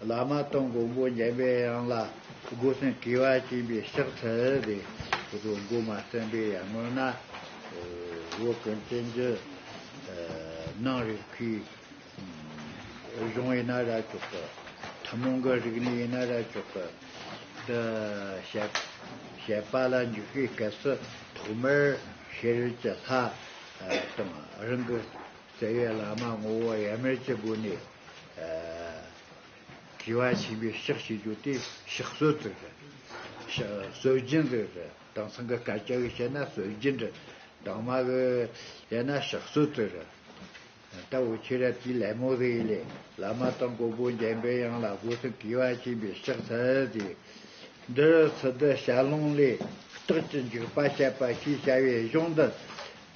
བླ་མ་སྟོང་མགོན་པོ་འཇམ་པའི་དབྱངས་ལ་སྒོ་སྲུང་བགྱི་བ་བྱིན་པའི་ཕྱག་འཚལ་ཏེ། སྒོ་མ་བརྩན་པའི་ཡར་ངོས་ན། བོད་ཀུན་བཙན་བྱོལ་སྣང་རིག་གི། གཞུང་ཡིན་ན་ར་ཅོག་པ། ཐུན་མོང་གི་རིག་གནས་ཡིན་ན་ར་ཅོག་པ། འདི་བཤད་པ་ལ་འཇུག་པའི་སྐབས་སུ་ཐོག་མར་ཤེས་རིག་གི་ལྷ་དང་རང་གི། རྩ་བའི་བླ་མ་ངོ་བོ་ཡར་མར་གྱི་སྒོ་ནས་དགེ་བ་བྱིན་པའི་ཕྱག་བྱེད་རྒྱུ་དེ་ཕྱག་སྲོལ་དུ་རེད། ཕྱག་སྲོལ་རྒྱུན་དུ་རེད། དེང་སང་གི་སྐད་ཆ་གིས་བཤད་ན་སྲོལ་རྒྱུན་རེད། གདོང་དམར་གིས་བཤད་ན་ཕྱག་སྲོལ་དུ་རེད། ལྟ་བུ་ཁྱེད་ར་དེའི་ལད་མོ་རེད་ལས་བླ་མ་དང་མགོན་པོ་འཇམ་པའི་དབྱངས་ལ་སྒོ་ཐོན་དགེ་བ་བྱིན་པའི་ཕྱག་འཚལ་དེ། འདི་ཚོ་འདི་ཞར་ལུང་ལས་རྟགས་ཀྱི་འཇུག་པ་བཤད་པ་ཞེས་བྱ་བའི་གཞུང་འདི།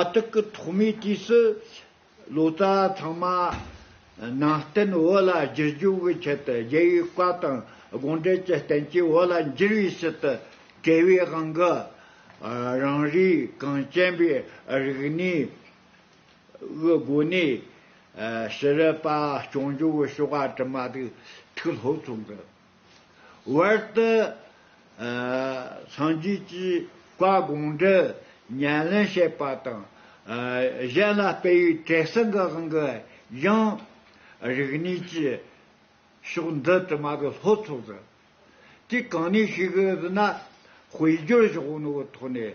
ཨ་ཏི་ཀི་ཐོག་མའི་དུས་སུ་ལོ་ཙཱ་ཚང་མ་ནང་བསྟན་བོད་ལ་བསྒྱུར་བཅོས་ཀྱི་ཆེད་དུ་རྒྱལ་བའི་བཀའ་དང་དགོངས་འགྲེལ་གྱི་རྟེན་གྱིས་བོད་ལ་འགྱུར་བའི་ཕྱིར་དུ་བྲལ་བའི་དབང་གིས་རང་རེའི་གངས་ཅན་པའི་རིག་གནས་ཀྱི་སྒོ་ནས་ཤེས་རབ་པ་སྐྱོང་རྒྱུའི་བྱ་བ་གྲུབ་མ་ཐག་ཐུགས་སློབ་ཚོགས་འདུ། བར་དུ། སངས་རྒྱས་ཀྱིས་བཀའ་དགོངས་འགྲེལ་ཉན་ལེན་བྱེད་པ་དང། གཞན་ལ་སྤེལ་བའི་བྲེ་སྲིན་གྱི་དབང་གིས་ཡང། རིགས་གནས་ཀྱི་ཕྱོགས་འདི་དུ་མ་གི་ལྷོ་ཕྱོགས་སུ། དུས་གང་ནས་ཤིག་ན་དཔེ་སྦྱོར་བཞག་ནོ་གི་ཐོག་ནས།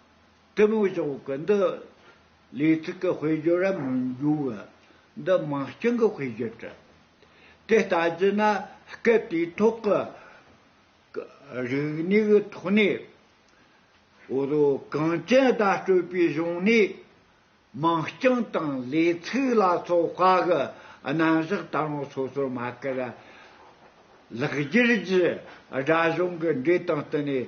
ཀྲི་མུ་ཞོག་གི་འདི་ལས་ཚིག་གི་དཔེ་བརྗོད་རབ་མི་འབྱུང་བས་འདི་མ་བྱིངས་ཀྱི་དཔེ་བརྗོད་བྲི། དེ་ལྟ་བགྱིས་ན་སྐད་དེའི་ཐོག་གི་རིག་གནས་ཀྱི་ཐོག་ནས་འོ་དོ་གངས་ཅན་བརྡ་སྤྲོད་པའི་གཞུང་ནས་མ་བྱིངས་དང་ལས་ཚིག་ལ་སོགས་བཀའ་གི་རྣམ་གཞག་ལྟ་ལོང་སོ་སོར་མ་ཁེར་ར་ལག་བསྒྱུར་གྱིས་སྒྲ་གཞུང་གི་འགྲོས་དང་བསྟུན་ནས།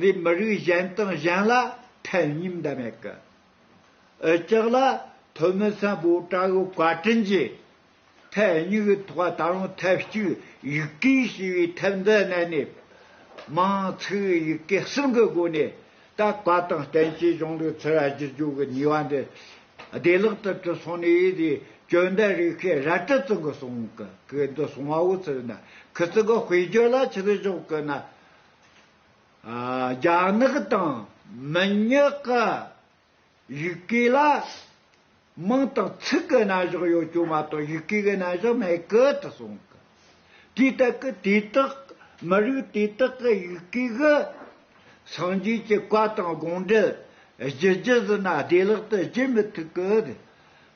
བའི་མི་རིགས་གཞན་དང་གཞན་ལ་ཕན་སྙིང་འདི་མེད་ཀི། འུ་ཅག་ལ་ཐོན་མི་བསམ་པོ་བཀྲ་གི་བཀའ་དྲིན་ཅི། ཐལ་སྙིགས་གི་ཐོག་ད་རུང་ཐབས་ཅིག་ཡིག་གེ་ཞེས་པའི་ཐབས་འདི་བསྣན་ནས། མང་ཚིག་གི་ཡིག་གེ་གསུམ་གི་སྒོ་ནས་ད་བཀའ་དང་བསྟན་བཅོས་གཞུང་ལུགས་ཚིག་ར་བསྒྱུར་བཅོས་ཀྱི་ནུས་བ་འདི་བདེ་བླག་ཏུ་གྲུབ་སོང་ནས་ཡིད་ཀྱི་སྐྱོན་འདི་རིགས་ཤེས་རལ་གྲི་བཙུག་གི་སོང་གི་གི་འདི་སོང་བའོ་ཚུལ་ན་གི་ཚིག་གི་དཔེ་བརྗོད་ལ་ཆུ་བཞོག་གི་ན་རྒྱ་ནག་དང་མི་ཉག་གི་ཡུལ་སྐད་ལ་མིང་དང་ཚིག་གི་རྣམ་གཞག་ཡོད་ཀྱང་མ་གཏོགས་ཡུལ་སྐད་ཀྱི་རྣམ་གཞག་མེད་གི་དུ་སོང་གི། དེའི་སྟབས་ཀྱིས་དེ་དག་མི་རིགས་དེ་དག་གི་ཡུལ་སྐད་ཀྱི་སངས་རྒྱས་ཀྱི་བཀའ་དང་དགོངས་འགྲེལ་བཞི་བརྒྱུད་ཟིན་ན་བདེ་བླག་ཏུ་བརྗེད་མི་ཐུབ་ཀི།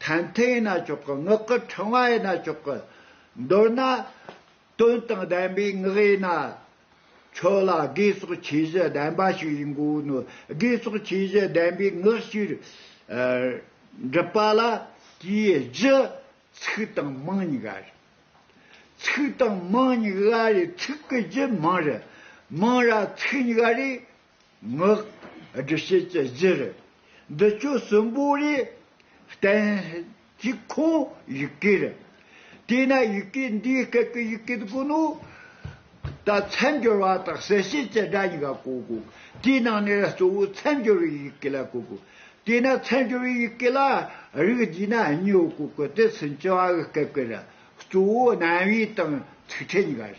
ཐན་ཐུན་ཡིན་ན་ཆོག་གི་ངག་གི་ཕྲེང་བ་ཡིན་ན་ཆོག་གི། མདོར་ན། དོན་དང་ལྡན་པའི་ངག་ཡིན་ན་ཆོག་ལ་དགེ་སོགས་ཆོས་བཞི་ལྡན་པ་ཞིག་ཡིན་དགོས་ནོ། དགེ་སོགས་ཆོས་བཞི་ལྡན་པའི་ངག་ཞིག་འགྲུབ་པ་ལ་དེའི་བཞི། ཚིག་དང་མིང་ཉིད་ཨ་རེ། ཚིག་དང་མིང་ཉིད་ཨ་རེ་ཚིག་གི་བཞི་མིང་རེ། མིང་ར་ཚིག་ཉིད་ཨ་རེ། ངག་སྒྲུབ་བྱེད་ཀྱི་གཞིར་འདི་ཆོས་གསུམ་པོ་ལས་བསྟན། གཅིག་ཁོང་ཡི་གེར། དེས་ན་ཡི་གེ་འདིའི་སྐད་ཀྱི་ཡི་གེ་དགུ་ནི། ད་མཚན་སྦྱོར་བ་དང་གསལ་བྱེད་ཀྱི་སྒྲ་གཉིས་ཀ་གོ་དགོས། དེའི་ནང་ནས་གཙོ་བོའི་མཚན་སྦྱོར་བའི་ཡི་གེ་ལ་གོ་དགོས། དེས་ན་མཚན་སྦྱོར་བའི་ཡི་གེ་ལ་རིགས་བསྡུས་ན་གཉིས་པོ་གོ་དགོས་ཏེ་སུན་བྱི་བ་གི་སྐད་ཀྱི་རིགས་གཙོ་བོ་རྣམ་དབྱེ་དང་ཚིག་ཕྲད་གཉིས་ཀ་རེད།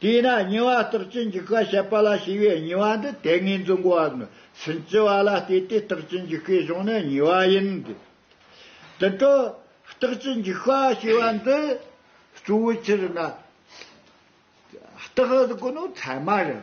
དེས་ན་ཉེ་བར་རྟགས་ཅན་གྱི་སྐད་བཤད་པ་ལ་ཞེས་པའི་ཉེ་བ་འདི་དེ་སྔའི་འཛིན་གོ་བ་ནི་སུན་ཅི་བ་ལ་བལྟས་ཏེ་རྟགས་ཅན་གྱི་སྐད་བྱུང་ན་ཉེ་བ་ཡིན་ཏེ། དུད་འགྲོ། རྟགས་ཅན་གྱི་སྐད་ཞེས་པ་འདི་གཙོ་བོའི་ཕྱིར་ན། རྟགས་དགུ་ནི་ཚད་མ་རེད།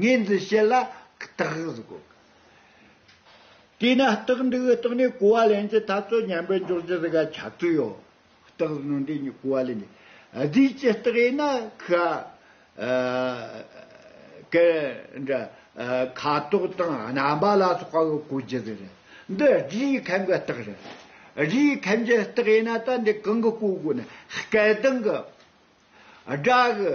ངེས་འཛིན་བྱེད་ལ་རྟག་གོ། དེས་ན་རྟག་འགྲིག་གི་རྟགས་ནི་གོ་བ་ལེན་གྱི་འཐབ་རྩོད་ཉམས་པའི་འཇོག་བྱེད་ཟེར་ག་ཆ་ཚུལ་ཡོད། རྟག་གཟུགས་ནོར་འདྲེས་གཉིས་གོ་བ་ལེན་གྱི་རྫས་ཀྱི་རྟགས་ཡིན་ན་ཁ། ཀ། འདྲ། ཁ་དོག་དང་རྣམ་པ་ལ་སོགས་པ་གོ་བྱེད་ཟེར། འདི་རྒྱུའི་ཁམས་ཀྱི་རྟགས་རེད། རྒྱུའི་ཁམས་ཀྱི་རྟགས་ཡིན་ན་ད་འདི་གང་གི་གོ་དགོས་ན་སྐད་གདངས་གི། སྒྲ་གི།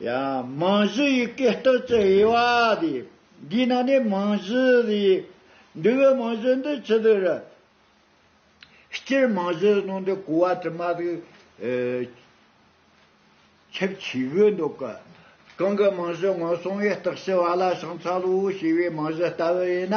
ཡང་མིང་གཞི་ཡི་གེ་གཏོད་ཚུལ་དབྱེ་བ་འདི་འདིའི་ནང་ནས་མིང་གཞི་ལས་འདས་པའི་མིང་གཞི་འདི་ཇི་ལྟར་རུང། སྤྱིར་མིང་གཞིའི་ནང་དུ་གོ་བ་དྲི་མ་དེ་ཁྱབ་ཆེ་དགོས་འདུག་གོ། གང་གི་མིང་གཞི་ངོས་བཟུང་བའི་རྟགས་ཞེས་བ་ལ་བྱང་ཚ་ལུའུ་ཞེས་པའི་མིང་གཞི་ལྟ་བུ་ཡིན་ན།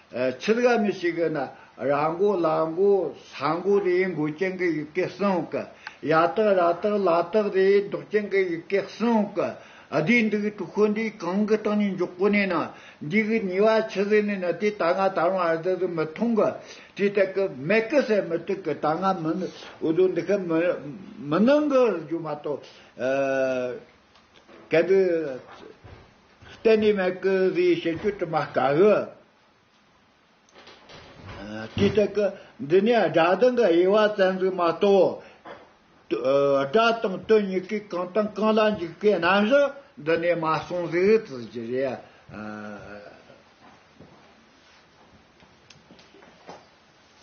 ཁྱི་དགའ་མི་བྱེད་གི་ན་ར་མགོ་ལ་མགོ་ས་མགོ་རེ་མགོ་ཅན་གི་ཡི་གེ་གསུང་གི་ཡ་ཏག་ར་ཏག་ལ་ཏག་རེ་མདོག་ཅན་གི་ཡི་གེ་གསུང་གི་བསྡུས་འདུག་གྲུ་ཤོ་འདི་གང་གི་སྟེང་ནས་འཇོག་གོ་ནས་ན་འདི་གི་ཉེ་བ་ཁྱི་ཟེར་ནས་ན་དེ་ད་ང་དར་མ་རྫི་ཟིག་མི་མཐོང་གི་དེ་ལྟ་གི་མེད་གི་ཟེར་མི་ཐུག་གི་ད་ང་མི་འུ་ཟོ་འདི་གི་མི་མི་ནང་གི་རྒྱུ་མ་གཏོགས་གལ་འདི། གཏན་ནས་མི་དགོས་པའི་བཤད་རྒྱུ་དྲི་མ་དཀའ་གི། དེ་ལྟ་གི། འདི་ནས་སྒྲ་གདངས་ཀྱི་དབྱེ་བ་རྩ་འཛུགས་མ་གཏོགས། སྒྲ་དང་དོན་གཉིས་ཀས་གང་དང་གང་ལ་འཇུག་པའི་རྣམ་གཞག་འདི་ནས་མ་གསུངས་ཟིག་ཟེར་གྱི་རེད།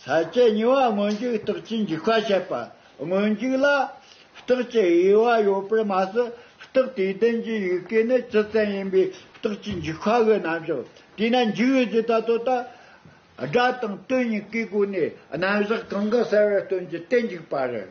ས་སྐྱའི་ཉེ་བ་སྔོན་འཇུག་རྟགས་ཀྱི་འཇུག་པ་བཤད་པ། སྔོན་འཇུག་ལ་རྟགས་ཀྱི་དབྱེ་བ་ཡོད་པར་མ་ཟད་རྟགས་དེའི་ལྡན་གྱི་ཡུལ་སྐད་ནི་སྤྱི་བཙན་ཡིན་པས་རྟགས་ཀྱི་འཇུག་པ་གི་རྣམ་གཞག་དེས་ན་འཇུག་ཡུལ་གྱི་བརྡ་དོ་དང། སྒྲ་དང་དོན་གཉིས་ཀའི་སྒོ་ནས་རྣམ་གཞག་གང་གི་གསལ་བའི་དོན་གྱི་རྟེན་འཇུག་པ་རེད།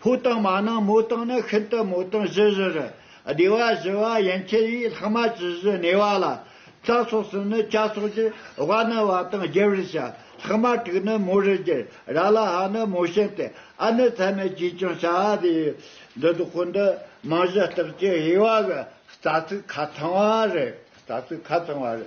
ཕོ་དང་མ་ནང་མོ་དང་ནི་ཤིན་ཏུ་མོ་དང་བཞི་བཞི་རུ། སྡེ་བ་བཞི་བ་ཡན་ཆད་ཡིན་ལྷག་མ་ཇི་བཞི་གནས་བ་ལ། རྩ་སོགས་སུ་ནི་བྱ་སོགས་ཀྱི་བ་ནི་བ་དང་བརྒྱད་རུ་བྱ། ལྷག་མ་དྲུག་ནི་མོ་རུ་བསྒྱུར་ར་ལ་ཧ་ནི་མོ་བྱིན་ཏེ་ཨ་ནི་ཚད་མེད་ཅིས་ཀྱང་བྱ་བ་དེ་ཡིན། འདི་དག་གོ་འདི་རྨང་གཞི་ལྟར་གྱི་དབྱེ་བ་གི་རྩ་ཚིག་ཁ་ཚང་བ་རེད་རྩ་ཚིག་ཁ་ཚང་བ་རེད།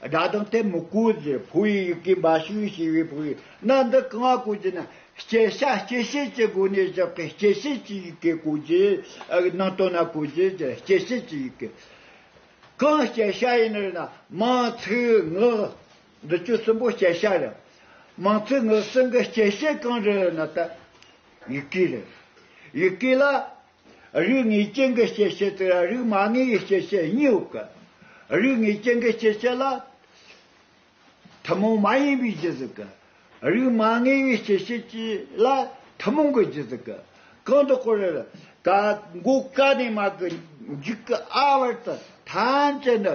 སྒྲ་དང་ལྟས་མི་བཀོད་ཀྱི་བུ་ཡི་ཡི་གེ་འབའ་ཞིག་ཡིན་ཞེས་པའི་བུ་ཡིག་རྣམས་འདི་གང་བ་བཀོད་ཅེ་ན། སྐྱེ་ཤ་སྐྱེ་ཤེས་ཀྱི་སྒོ་ནས་བཞག་པའི་སྐྱེ་ཤེས་ཀྱི་ཡི་གེ་བཀོད་ཅེས་ནང་དོན་ན་བཀོད་ཅེས་ཀྱི་སྐྱེ་ཤེས་ཀྱི་ཡི་གེ། གང་སྐྱེ་ཤ་ཡིན་ནོ་ཞེ་ན། མང་ཚིག་ངག། འདི་བཅུ་གསུམ་པོ་སྐྱེ་ཤ་རེད། མང་ཚིག་ངག་གསུམ་གྱི་སྐྱེ་ཤེས་གང་རེད་ན། ཡི་གེ་རེད། ཡི་གེ་ལ། རིགས་ལྔའི་སྐྱེ་འགག་སྐྱེ་མཆེད་དེ་ལ་རིགས་མ་ལྔའི་སྐྱེ་མཆེད་གཉིས་ཡོད་དགོས། རིགས་ལྔའི་སྐྱེ་འགག་སྐྱེ་མཆེད་ལ། ཐུན་མོང་མ་ཡིན་པའི་རྒྱུ་ཟེར་གི། རིགས་མ་ལྔའི་སྐྱེ་མཆེད་ཀྱི་ལ་ཐུན་མོང་གི་རྒྱུ་ཟེར་གི། གང་དུ་ཀོ་རེ་ལ། ཀ། མགོ་ཀ་ནས་མ་ཀི་འཇིག་གི་ཨ་བར་དུ་ཐམས་ཅད་ནི།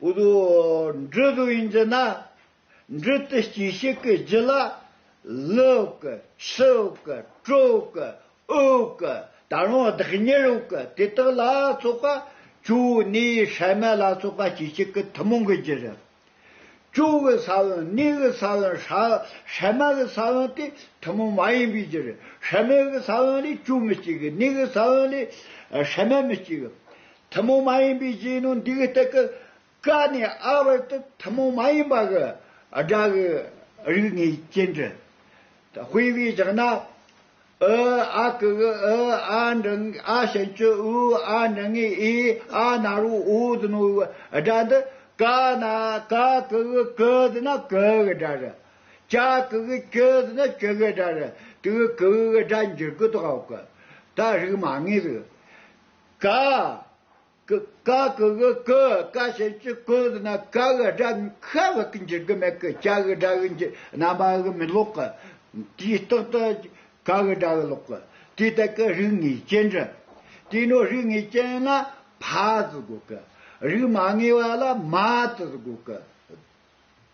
པོ་དུ། འབྲུ་དུ་ཡིན་ཅེ་ན། འབྲུ་དུ་སྐྱེས་ཤིག་གི་རྒྱུ་ལ། ལུག། ཕྱུག། དྲུག། དབུག། ད་རུང་བདག་ཉིད་དབུག་དེ་དག་ལ་སོགས་པ་བཅུ་བོའི་གནས་ཡིད་ཧྲལ་མེད་ལ་སོགས་པ་སྐྱེས་ཤིག་གི་ཐུན་མོང་གི་རྒྱུ་རུ། བཅུ་བོའི་ས་བོན་གནས་ཀྱི་ས་བོན་ཧྲལ་མ་གི་ས་བོན་དེ་ཐུན་མོང་མ་ཡིན་པའི་རྒྱུ་རུ་ཧྲལ་མེད་ཀྱི་ས་བོན་ལས་བཅུ་མི་སྐྱེ་གི་གནས་ཀྱི་ས་བོན་ལས་ཧྲལ་མེད་མི་སྐྱེ་གི། ཐུན་མོང་མ་ཡིན་པའི་རྗེས་གནང་འདི་གི་སྟེགས་ཀ་ནས་ཨ་བར་དུ་ཐུན་མོང་མ་ཡིན་པ་གི་སྒྲ་གི་རིགས་ངེས་ཅན་དྲི་དཔེ་བས་བཞག་ན། ཨུ་ཨ་ཀུ་གུ་ཨུ་ཨ་འབྲི་ཨ་ཞན་ཅུ་ཨུ་ཨ་འབྲི་ངེ་ཨི་ཨ་ནར་བུ་ཨུ་ཟི་ནོ་ཨུ་སྒྲ་འདི་ཀ་ན་ཀ་ཀུ་གུ་ཀུ་ཟི་ན་ཀུ་གི་སྒྲ་རེད། ཀྱ་ཀུ་གུ་ཀྱུ་ཟི་ན་ཀྱུ་གི་སྒྲ་རེད་དུས་ཀུ་གི་སྒྲ་འགྱུར་གུ་དོག་གི་ད་རིགས་མ་ངེས་རིགས། ཀ། ཀ་གི་གི་ཀུ་ཀ་ཞེས་བྱའི་ཀུ་འདི་ན་ཀ་གི་སྒྲ་ཁ་བ་ཀི་འགྱིག་གི་མེད་ཀི་ཀྱ་གི་སྒྲ་གི་འགྱིག་རྣམ་པ་གི་མི་ཀློག་གི། དེའི་སྟེང་དུ་ཀ་གི་སྒྲ་གི་ཀློག་གི། དེ་ལྟར་ཀི་རིགས་ངེས་ཅན་འདྲི། དེ་ནོ་རིགས་ངེས་ཅན་ལ་ཕ་ཙི་དགོས་ཀི། རིགས་མ་ངེས་པ་ལ་མ་ཙི་དགོས་ཀི།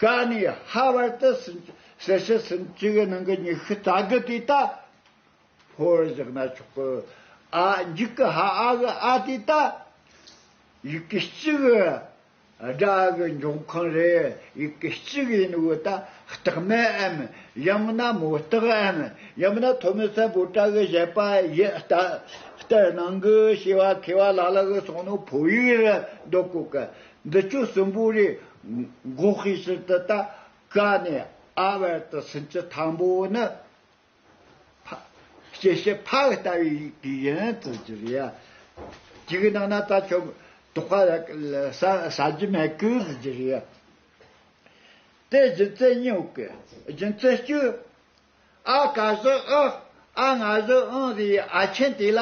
ཀ་ནས་ཧ་བར་དུ་གསལ་བྱེད་ཟིན་བཅུ་ཡི་ནང་གི་ཉི་ཤུ་རྩ་དགུ་དེ་དག་འཕོ་བར་བཞག་ན་ཆོག་གོ། ཨ་འཇིག་གི་ཧ་ཨ་གི་ཨ་དེ་དག་ཡི་གེ་གཅིག་གི་སྒྲ་གི་འབྱུང་ཁུངས་རེད་ཡི་གེ་གཅིག་ཡིན་དགོས་ད་རྟགས་མེད་འམ་ཡང་ན་མུ་སྟེགས་འམ་ཡང་ན་ཐོ་མི་སེ་བོ་ཏྲ་གི་བཞེད་པ་ཡི་ལྟར་སྣང་གི་ཤེས་བ་ཁེ་བ་ལ་ལ་གི་སོང་ནོ་འཕོ་ཡིག་རེད་འདོད་གོ་གི་འདི་ཁྱོད་གསོན་པོ་རེད། འགོག་ཤེས་ཕྱིར་དུ་ད་ག་ནས་ཨ་བར་དུ་ཟིན་གྱི་དང་པོ་ནི། སྐྱེ་བྱེད་ཕག་ལྟ་བུའི་དུས་ཡིན་བརྩི་རྒྱུ་རེད། གཅིག་གི་ནང་ན་ད་ཁྱོད་དོག་པ་ཟ་རྒྱུ་མེད་གི་བརྩི་རྒྱུ་རེད། དེ་རྒྱུ་མཚན་སྨྱོ་གི་རྒྱུ་མཚན་སྐྱོ། ཨ་ག་བཞི་ཨི། ཨ་ང་བཞི་ཨི་ཟེར་ཨ་ཆེན་དེ་ལ་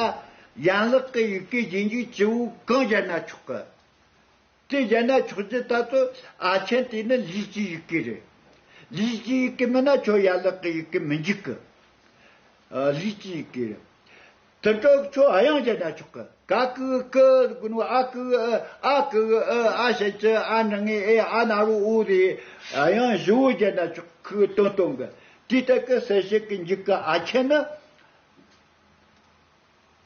ཡན་ལག་གི་ཡི་གེ་རྗེས་འཇུག་སྤྱི་བོའི་གང་སྦྱར་ན་ཆོག་གི་དེ་བཞེད་ན་ཆོག་ཅེས་ལྟ་ཚོད་ཨ་ཆེན་དེ་ནི་ལུས་ཀྱི་ཡི་གེ་རེད། ལུས་ཀྱི་ཡི་གེ་མིན་ན་ཆོག་ཡན་ལག་གི་ཡི་གེ་མི་འཇུག་གི། ལུས་ཀྱི་ཡི་གེ་རེད། དུད་འགྲོ་ཁྱོད་ཨ་ཡང་བཞེད་ན་ཆོག་གི་ག་ཀི་ཀི་དགོས་ནོ་ཨ་ཀི་ཨི་ཨ་ཀི་ཨི་ཨ་ཤེ་ཅི་ཨ་ནི་ངི་ཨེ་ཨ་ན་རོ་ཨུ་རེ་ཨ་ཡང་བཞི་བོ་བཞེད་ན་ཆོག་གི་དོན་སྟོན་གི། དེ་ལྟར་གི་གསལ་བཤད་ཀྱི་འཇུག་གི་ཨ་ཆེན་ནི།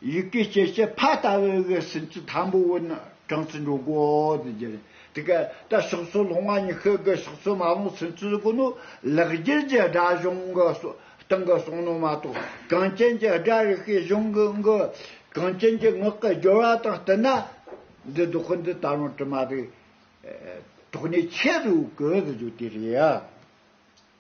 ཡི་གེ་སྐྱེ་མཆེད་ཕ་ལྟ་བའི་གི་སེམས་ཅན་དང་པོ་བོ་ནི་གྲངས་ཚད་འགྲོ་གོ་དུ་གྱེར་ཡང་དེ་ཀ་ད་ཕྱག་ཚོད་ལྷོང་ང་ཉི་ཤུ་གི་ཕྱག་ཚོད་མ་ལོངས་སེམས་ཅན་གོ་ནོ་ལེགས་གྱེར་གྱི་སྒྲ་གཞུང་གི་སྟེང་གི་གསུང་ནོ་མ་གཏོགས་གངས་ཅན་གྱི་སྒྲ་རིག་པའི་གཞུང་གི་གི་གངས་ཅན་གྱི་ངག་གི་སྦྱོར་བ་དང་བསྟུན་ན་འདི་བདུག་གི་འདི་ད་རུང་དྲི་མ་རིག་དོགས་ནས་ཆད་དུ་གོ་དུ་གྱུར་དེ་རེད་ཡ།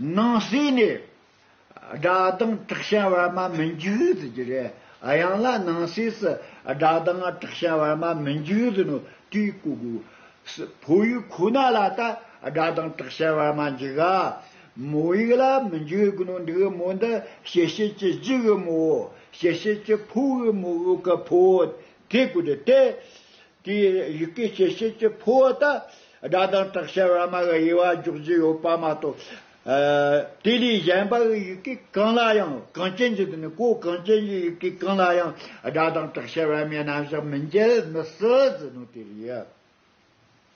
སྣང་སྲིད་ནི། སྒྲ་གདངས་དྲག་ཞན་བར་མ་མི་འཇུག་ཟེར་གྱི་རེད། ཡང་ལ་སྣང་སྲིད་སུ་སྒྲ་གདངས་དྲག་ཞན་བར་མ་མི་འཇུག་ཟེར་ནོ་དུས་གོ་དགོས། ཕོ་ཡིག་ཁོ་ན་ལ་ད་སྒྲ་གདངས་དྲག་ཞན་བར་མ་འཇུག་ཨ། མོ་ཡིག་ལ་མི་འཇུག་གི་ནོ་འདུག་མོ་འདི་ཞེ་ཤེས་ཀྱི་རྗི་གི་མོའོ། ཞེ་ཤེས་ཀྱི་ཕོ་གི་མོའོ་གི་ཕོའོ། དེ་གོ་དེ་སྟེ། དེས་ཡི་གེ་སྐྱེད་བྱེད་ཀྱི་ཕོ་བ་དང་སྒྲ་དང་དྲག་ཆས་བར་མ་གི་དབྱེ་བ་འཇོག་རྒྱུ་ཡོད་པ་མ་གཏོགས། དེ་ལས་གཞན་པའི་ཡི་གེ་གང་ལ་ཡང་གངས་ཅན་གྱི་དོན་གོ་གངས་ཅན་གྱི་ཡི་གེ་གང་ལ་ཡང་སྒྲ་དང་དྲག་ཆས་བར་མའི་རྣམ་གཞག་མི་འཇལ་མི་སྲིད་ཟེར་ནོ་དེ་རེད།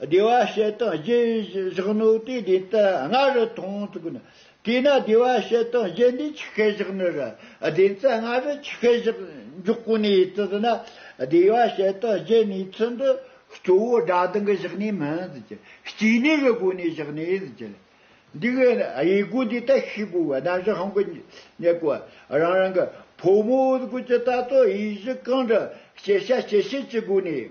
བདེ་བ་ཞེ་སྡང་བཞི་བཞག་ནོ་དེ་བདེན་ཏེ་ལྔ་རུ་མཐོང་ཐུབ་ན། དེས་ན་བདེ་བ་ཞེ་སྡང་བཞི་འདི་ཆི་ཤེ་བཞག་ནི་ར་བདེན་ཏེ་ལྔ་རུ་ཆི་ཤེ་བཞག་འཇོག་གོ་ནི་ཙིཏྟ་ན་བདེ་བ་ཞེ་སྡང་བཞི་ནི་ཚུལ་འདི་གཙོ་བོ་སྒྲ་གདངས་ཀྱི་བཞག་ནི་མིན་ཟེར་གྱི་སྐྱེ་གནས་ཀྱི་སྒོ་ནས་བཞག་ནི་ཟེར་གྱི་ལ། འདི་གི་དབྱེ་སྒོ་འདི་ལྟ་ཤི་བོ་བ་རྣམ་གཞག་གི་ཉེ་བར་རང་རང་གི་ཕོ་མོའི་སྒོ་ཀྱི་ལྟ་སྟངས་དབྱེ་གཞི་གང་འདྲ་སྐྱེ་བྱ་སྐྱེ་བྱེད་ཀྱི་སྒོ་ནས་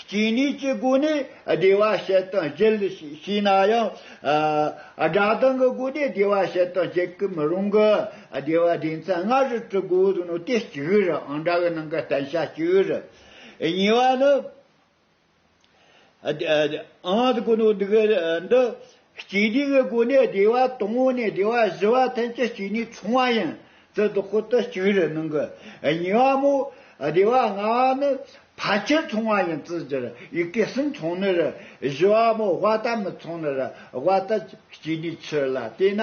སྐྱེ་གནས་ཀྱི་སྒོ་ནས་བདེ་བ་བྱེད་དང་བརྒྱུད་ཞེས་བྱས་ན་ཡང། སྒྲ་གདངས་ཀྱི་སྒོ་ནས་བདེ་བ་བྱེད་དང་བརྒྱུད་ཀྱི་མི་རུང་གི། བདེ་བ་སྡེ་ཚན་ལྔ་རུ་དྲིལ་དགོས་བཟོ་ནོ་སྟེ་གཅིག་རེ་རེའང་སྒྲ་གི་ནང་གི་བསྟན་བྱ་གཅིག་རེ། གཉིས་པ་ནི། འང་དགོས་ནོ་འདི་སྐྱེ་འཇིག་གི་སྒོ་ནས་བདེ་བ་སྟོང་ངོ་ནས་བདེ་བ་བཞི་པ་ཐམས་ཅད་གཅིག་ནས་བྱུང་བ་ཡིན། ཙི་ཏུ་ཀུ་ཏུ་གཅིག་རེ་ནང་གི་ཉེ་བ་མོ། བདེ་བ་ལྔ་བ་ནི་ཕལ་ཆེར་མཚུངས་བ་ཡིན་ཙི་ཅི་རི་ཡི་གེ་གསུམ་མཚུངས་ནི་རི་བཞི་བ་མོ་དབའ་རྟ་མི་མཚུངས་ནི་རི་དབའ་རྟ་གཅིག་ནས་ཕྱིར་ལ་བལྟས་ན།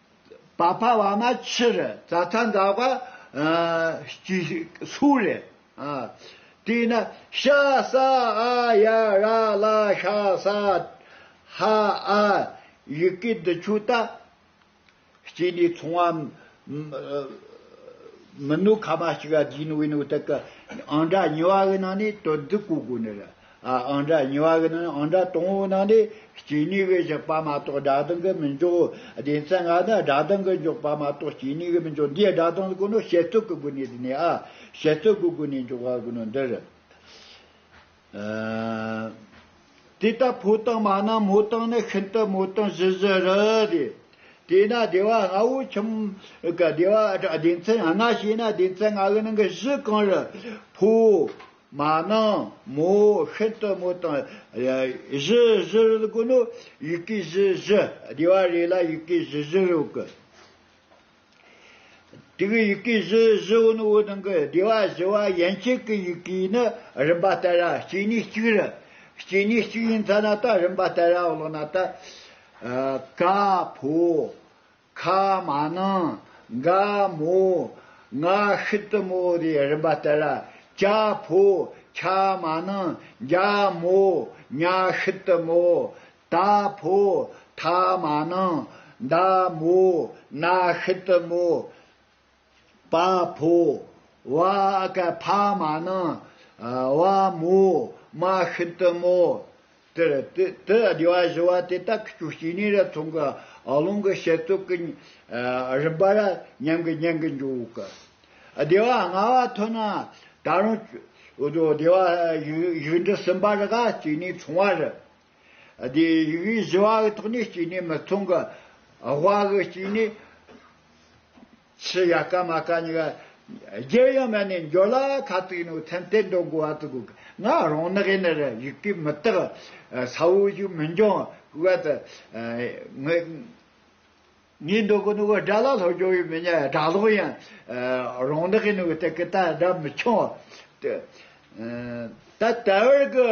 བ་ཕ་བ་མ་ཕྱི་རུ་རྩ་ཐང་འཛག་པ། སྐྱི་སུག་རེད། དེས་ན་ཤ་ས་ཨ་ཡ་ར་ལ་ཤ་ས་ཧ་ཨ་ཡི་གེ་འདི་ཆུ་ད་སྐྱི་ནས་ཚོང་བ་མི་ནུ་ཁ་མ་སྐྱི་ག་དགིན་བའི་ནུ་ཏི་ཀི་ཨང་འདྲ་ཉི་བ་གི་ནང་ནས་དོ་འདི་གོ་དགོ་ནི་ར། ཨང་སྒྲ་གཉིས་པ་གྱི་ནང་ཨང་སྒྲ་དང་པོའི་ནང་ནས་སྐྱེས་ནུས་ཀྱི་གཞག་པ་མ་གཏོགས་སྒྲ་གདངས་ཀྱི་མི་འཇོག། སྡེ་ཚན་ལྔ་ནི་སྒྲ་གདངས་ཀྱི་འཇོག་པ་མ་གཏོགས་སྐྱེས་ནུས་ཀྱི་མི་འཇོག་འདིའི་སྒྲ་གདངས་ཀུན་སློང་བཤད་ཚུལ་གྱི་སྒོ་ནས་བསྡུས་ནས་ཨ་བཤད་ཚུལ་གྱི་སྒོ་ནས་འཇོག་པ་ཀུན་སློང་འདིར། དེ་ལྟ་ཕོ་དང་མ་ནང་མོ་དང་ནི་ཤིན་ཏུ་མོ་དང་བཞི་བཞི་རུ་སྟེ། དེས་ན་སྡེ་བ་ལྔ་བོའི་ཁྱིམ་གྱི་སྡེ་བ་སྡེ་ཚན་ལྔ་ཞེས་ན་སྡེ་ཚན་ལྔ་གི་ནང་གི་བཞི་གང་རུང་ཕོ། མ་ནིང་མོ་ཤིན་ཏུ་མོ་དང། བཞི་བཞི་རུ་དགོས་ནོ། ཡི་གེ་བཞི་བཞི་བསྡུས་པ་རེ་ལ་ཡི་གེ་བཞི་བཞི་རུ་དགོས། དེའི་ཡི་གེ་བཞི་བཞི་བོ་ནི་འོད་སྟོང་གི་བདེ་བ་བཞི་བ་ཡན་ཆད་ཀྱི་ཡི་གེ་ནི་རིམ་པ་ལྟར་ར་སྐྱེ་གནས་གཅིག་རུ། སྐྱེ་གནས་གཅིག་ཡིན་ཚ་ན་ད་རིམ་པ་ལྟར་ར་བླངས་ན་ད། ཀ་ཕོ། ཁ་མ་ནང་འགའ་མོ་ང་ཤི་དུ་མོ་རེ་རིན་པ་ལྟ་ལ་ཀྱ་ཕོ་ཁྱ་མ་ནང་འགྱ་མོ་ཉ་ཤི་དུ་མོ་ད་ཕོ་ཐ་མ་ནང་འདའ་མོ་ན་ཤི་དུ་མོ་བ་ཕོ། བ་ཀ་ཕ་མ་ནི། བ་མོ་མ་ཤིན་ཏུ་མོ། དེར་དུ་སྡེ་བ་བཞི་བ་དེ་དག་གི་ཆོས་སྐྱེ་གནས་རབ་མཚུངས་ཀྱི་ཀློང་གི་བཤད་རྩོད་ཀྱི་རིམ་པ་ར་མཉམ་གྱི་ཉན་གྱི་འཇུག་གི་སྡེ་བ་ལྔ་བ་ཐོན་ན་ད་རུང་སྡེ་བ་བཞི་འབྲི་གསུམ་པ་རེ་ག་སྐྱེ་གནས་མཚུངས་བ་རེ། དེ་ཡི་བའི་བཞི་བ་གི་ཐོག་ནས་སྐྱེས་ནས་མི་ཚོང་གི་བ་གི་སྐྱེས་ནས། ཕྱི་ཡ་ཀ་མ་ཀ་ཉི་ག་རྒྱལ་ཡང་མ་ནས་འགྱོ་ལ་ཁ་ཙིག་ནོ་ཚན་གཏེར་མདོ་མགོ་བ་ཙི་གུ་གི་ང་རང་ནག་ཡེ་ནི་ར་ཡིག་གི་མི་དག་ས་བོ་ཞིག་མི་འགྱང་བ་དི་ངི་ངའི་མདོ་གི་ནུ་གི་སྒྲ་ལ་ལྷོ་རྒྱོ་ཡི་མི་ཉ་སྒྲ་ལོག་ཡང་རང་ནག་ཡེ་ནི་གི་ཏི་གི་ཏ་སྒྲ་མི་འཆང་ཏི་ད་ད་བར་གི།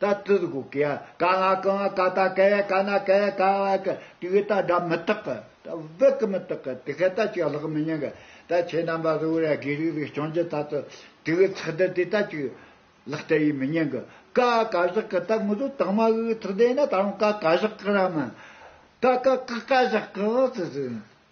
ད་དུས་སྒོ་ཀེ་ཡ་ཀ་ང་ཀེ་ང་ཀ་ད་ཀེ་ཡ་ཀ་ན་ཀེ་ཡ་ཀ་བ་ཀེ་དུས་ཀེ་ད་སྒྲ་མི་རྟག་གི་ད་བི་ཀི་མི་རྟག་གི་དེ་ཀེ་ད་ཅིག་ལྷག་མི་ཉན་གི་ད་ཁྱེད་རྣམ་པ་གཟུགས་རེ་དགེ་ལུགས་རེ་སྐྱོང་རྒྱུ་ད་དུ་དུས་ཀེ་ཚག་སྡེར་དེ་ད་ཅིག་ལྷག་ད་ཡིས་མི་ཉན་གི་ཀ་ཨ་ཀ་བཞག་གི་ད་ངོ་ཟུ་དྭངས་མ་གིས་ཚག་སྡེར་ན་ད་རུང་ཀ་ཀ་བཞག་གི་ར་མ་ད་ཀ་ཀ་ཀ་བཞག་གི་ཨ་ཙི་ཙི།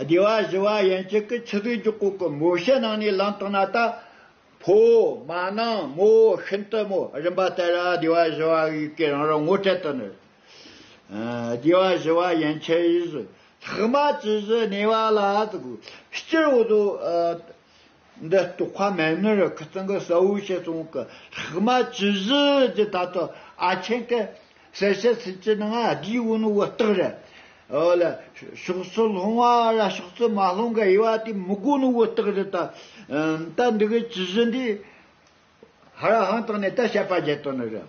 སྡེ་བ་བཞི་བ་ཡན་ཆད་ཀྱི་ཆུ་ཟོས་རྒྱུ་སྐོར་གྱི་མོ་བཤད་གནང་ནས་ལམ་སྟོན་ན་ད་བོ། མ་ནིང་མོ། ཤིན་ཏུ་མོ། རིམ་པ་དེ་རུ་སྡེ་བ་བཞི་བ་ཡི་གེ་རང་རང་ངོ་སྤྲད་དུ་ནི། སྡེ་བ་བཞི་བ་ཡན་ཆད་ཡིས། ལྷག་མ་ཇི་བཞིན་གནས་པ་ལ། སྤྱིར་བོ། འདི་ལྟོ་ཁ་མེད་ནི་རི་ཁུ་ཙང་གི་སའུ་ཤེ་ཙོང་གི་ལྷག་མ་ཅི་བཞི་ཇི་ད་དུ་ཨ་ཆེན་གི་སེར་ཤ་སྲིད་ཅི་ནང་ཨ་དགིའི་བུ་ནི་བུ་སྟག་རི་ཨོ་ལ་ཕྱོགས་སུ་ལྷུང་བ་ལ་ཕྱོགས་སུ་མ་ལྷུང་གི་དབྱེ་བ་དེ་མི་དགོས་ནི་བུ་སྟག་རི་ད་ད་འདི་གི་ཅི་བཞི་འདི་ཧ་ར་ཧང་དང་ནི་ད་བཤད་པ་བརྒྱད་དོ་ནི་རི་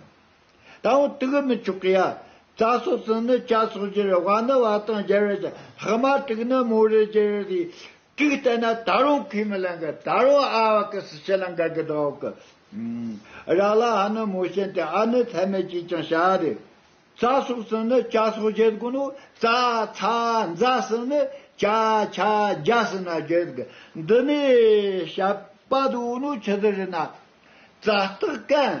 དང་བོ་དག་མི་ཆོག་གི་ཡ་རྩ་སོགས་ཙང་ནི་བྱ་སོགས་བཞི་རི་བ་ནི་བ་དང་རྒྱལ་བའི་ལྷག་མ་དྲུག་ནི་མོ་རི་རྒྱལ་བའི་དྲུག་བསྟན་ན་ད་རུང་ཁས་མི་ལེན་གི་ད་རུང་ཨ་བ་ཀི་སི་ཆེ་ལ་འགལ་གི་འདུག་གི། རག་ལ་ཧ་ནི་མོ་ཤེན་ཏེ་ཨ་ནི་ཚད་མེད་ཅིག་ཀྱང་བྱ་བ་རེད། ཚ་སོགས་སུ་ནི་ཅ་སོགས་བརྒྱད་དགོས་ནོ། ཙ་ཚ་འཛ་སུ་ནི་ཅ་ཆ་རྒྱ་སུ་ན་བརྒྱད་དགོས། འདི་ནས་བྱ་བ་དུ་བོ་ནོ་ཆུ་ཟི་རི་ན། ཙ་སྟག་ཀན།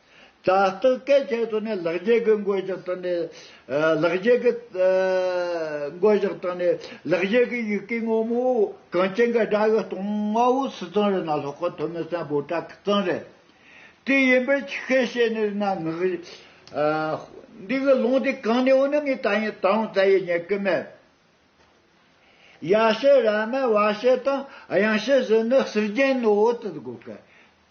དྲ་བསྟོད་སྐད་ཆའི་ཐོག་ནས་ལག་རྗེས་ཀྱི་འགོ་བཞག་བཏང་ནས། ལག་རྗེས་ཀྱི། འགོ་བཞག་བཏང་ནས་ལག་རྗེས་ཀྱི་ཡི་གེ་སྔོན་མོ། གངས་ཅན་གྱི་དགྲ་ཡི་སྟོང་ལྔ་བོ་སི་ཙང་རི་ན་ལྷོ་ཁ་ཐོ་མི་སན་བོ་བྲག་གི་ཙང་རི། དེ་ཡིན་པས་ཆི་ཁའི་ཤེས་ནི་རི་ན་ངག། འདི་གི་ལུང་དེ་གང་ནས་འོངས་ན་ངས་ད་ཡིན་ད་འོངས་ད་ཡིན་ཉེར་དགུ་མེད། ཡ་ཤས་ར་མའི་བ་ཤས་དང་གཡང་ཤས་ཟིན་ནི་གསེར་རྒྱན་ནོ་ཨོ་ཏི་དགོ་ག།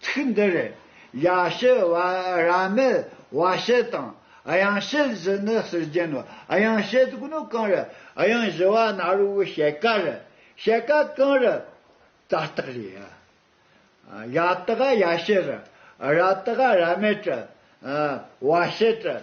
ཚིག་འདི་རེད། ཡ་ཤེ་བ་ར་མེད་བ་ཤེ་དང་གཡང་ཤེལ་བཞི་ནི་ཟུར་རྒྱན་ནོ། གཡང་ཤེལ་དགུ་ནི་གང་རེད། གཡང་བཞི་བ་ནཱ་རོ་བའི་ཤེལ་ཀ་རེད། ཤེལ་ཀ་གང་རེད། ཙ་སྟག་རེད། ཡ་སྟག་ཡ་ཤེ་རེད། ར་སྟག་ར་མེད་བྲལ། བ་ཤེ་བྲལ།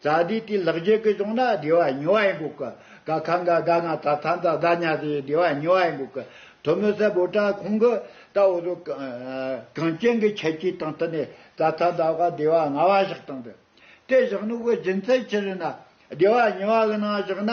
རྩ་བདེ་དེ་ལག་རྗེས་ཀྱི་བྱུང་ན་བདེ་བ་ཉེ་བ་ཡིན་དགོས་ཀི། ག་ག་འགའ་དགའ་ང་ད་ཐ་འདི་དགའ་ཉག་དེ་བདེ་བ་ཉེ་བ་ཡིན་དགོས་ཀི། དོན་མི་གསལ་བོ་དྲ་ཁོང་གི་ད་འོ་ཟོ། གངས་ཅན་གྱི་ཁྱད་ཆོས་དང་བསྟུན་ནས་ད་ཐ་འདི་དགའ་བདེ་བ་ང་བ་ཞིག་བཏང་དུས། དེ་བཞག་ནུབ་གི་རྒྱུ་མཚན་ཅི་རེད་ན། བདེ་བ་ཉེ་བ་གི་ནང་བཞག་ན།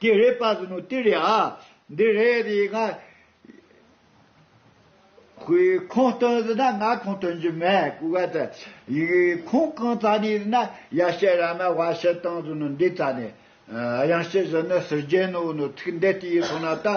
ཀྱེ་རེ་པ་ཟིན་ནོ་ཏི་རེ་ཨ། འདི་རེ་རེ་ཡི་ཁ། ཁོའི་ཁོང་སྟོན་ཟིན་ན་ང་ཁོང་སྟོན་རྒྱུ་མེད་ཀུ་ག་ཏི། ཡི་ཁོང་གང་ཙ་ནས་ཟིན་ན་ཡ་ཤེ་ར་མ་བ་ཤེ་ཏང་ཟིན་ནོ་འདི་ཙ་ནས། གཡང་ཤེ་ཟིན་ནོ་སིར་རྒྱན་ནོ་བུ་ནོ་ཐིག་འདེ་ཏི་ཡི་ཐོ་ན་ཏ།